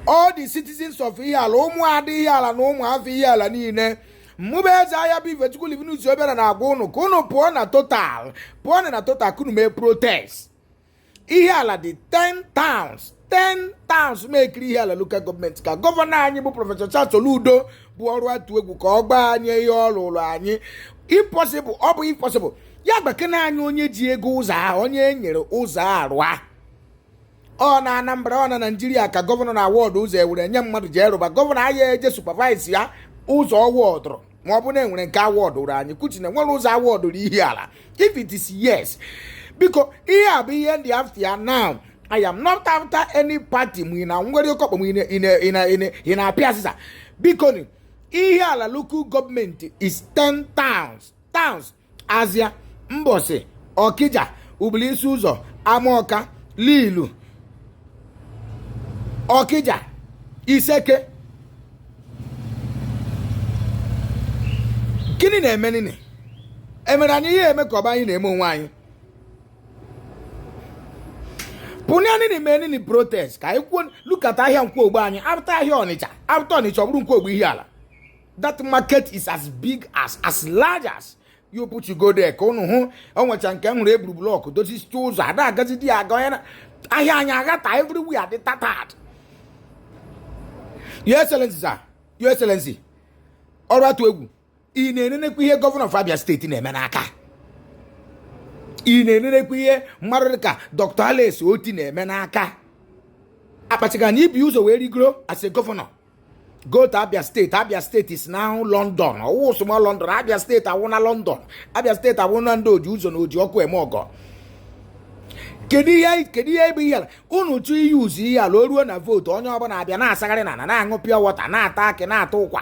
all the citizens of Ihiala ụmụada Ihiala na ụmụafọ Ihiala niile mmụ bụ eze ahịa bụ Ifechukwu Livinus Obiara na-agwa ụnụ ka ụnụ pụọ na total ka ụnụ mee protest Ihiala dị 10 towns 10 towns mekiri Ihiala local gọọmenti ka gọvanọ anyị bụ prọfesọ Charles Soludo bụ ọrụ atụ egwu ka ọ gbaa anyị ihe ọ rụrụ anyị ọ bụ impossible ya gbakena anyị onye ji ego ụzọ ahụ onye e nyere ụzọ a rụọ ọ na anambra ọ na naijiria ka gọvanọ na-awọdụ ụzọ e were nye mmadụ ji erụba gọvanọ anaghị eje supavaisi ya ụzọ ọ awọdụrụ ma ọ bụ na e nwere nke awọdụụrụ anyị kuchi na e nwere ụzọ awọdụụrụ Ihiala if it is yes biko ihe a bụ ihe m dị after now i am not after any party ma ị na nwere oke ọkpa ma ị na-apịa azịza biko Ihiala local gọọmenti is 10 towns azịa mbọsị ọkija ubuluisiụzọ amọka lilu ọkija iseke gịnị na-eme nini e mere anyị ihe eme ka ọ bụ anyị na-eme onwe anyị pụnye nini mee nini protest ka anyị kwuo look at ahịa nkwọ ogbe anyị after ahịa ọnịcha after ọnịcha ọ bụrụ nkwọ ogbe Ihiala that market is as big as as large as you put you go there ka ụnụ hụ o nwecha nke m hụrụ e buru blọk dozisie ụzọ ada agazi di ya aga onye na ahịa anyị aghata everywhere dị tattered your excellency sir your excellency ọrụ atụ egwu ị na-enenekwa ihe gọvanọ of abia steeti na-eme n'aka ị na-enenekwa ihe mmadụ dịka dr alex oti na-eme n'aka akpachịga na ibi ụzọ wee rigoro as a gọvanọ go to abia steeti abia steeti is now london ọ wụ small london abia steeti awụna london abia steeti awụna ndị o ji ụzọ na o ji ọkụ eme ọgọ kedu ihe kedu ihe bụ Ihiala unu to use Ihiala o ruo na vootu onye ọbụla abịa na-asagharị na na-aṅụ pure water na-ata akị na-ata ụkwa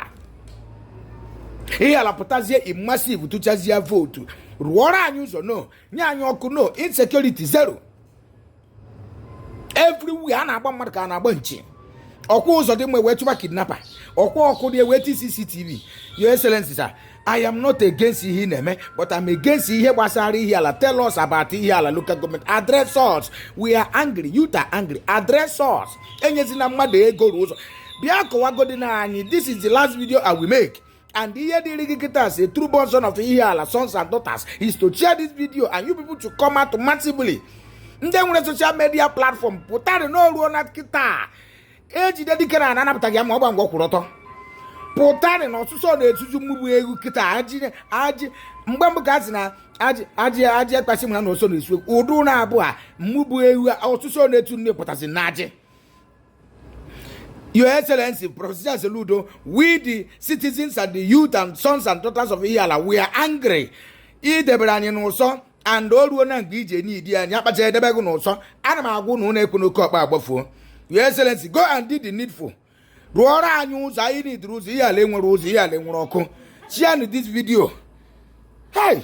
Ihiala pụtazie in massive tụchazie vootu rụọrọ anyị ụzọ no nye anyị ọkụ no insecurity zero everywhere a na-agba mmadụ ka a na-agba nchi ọ kwa ụzọ dị mma wee chụba kidnapper ọ kwa ọkụ dị wee ti cctv your excellency sir i am not against ihe ị na-eme but i'm against ihe gbasara Ihiala tell us about Ihiala local government address us we are angry youth are angry address us enyezina mmadụ ego rụọ ụzọ bịa kọwagodi na anyị this is the last video i will make and ihe dịrị gị kịta as a true born son of Ihiala sons and daughters is to share this video and you people to come out massively ndị nwere social media platform pụtara na o ruona kịta e jide dike na anapụtaghị ya ma ọ gba ngwa kwụrụ ọtọ pụtara na ọsụsọ na-etuju mmụgbu egwu kịta ajị ajị mgbe mbụ ka a sị na ajị ajị ajị ekpasị mara na ọsọ na-esu ụdụ na-abụ a mmụgbu egwu ọsụsọ na-etu nne pụtasị na ajị Your Excellency, Professor Soludo, we the citizens and the youth and sons and daughters of Ihiala, we are angry. I debere anyị n'ụsọ and o ruo na mgbe ije ndị anyị akpacha edebe gị n'ụsọ ana m agwa unu okwu n'oke ọkpa agbafuo Your Excellency, go and do the needful. Rụọrọ anyị ụzọ anyị enwerọ ụzọ Ihiala enwerọ ụzọ Ihiala enwerọ ọkụ. Share this video. Hey!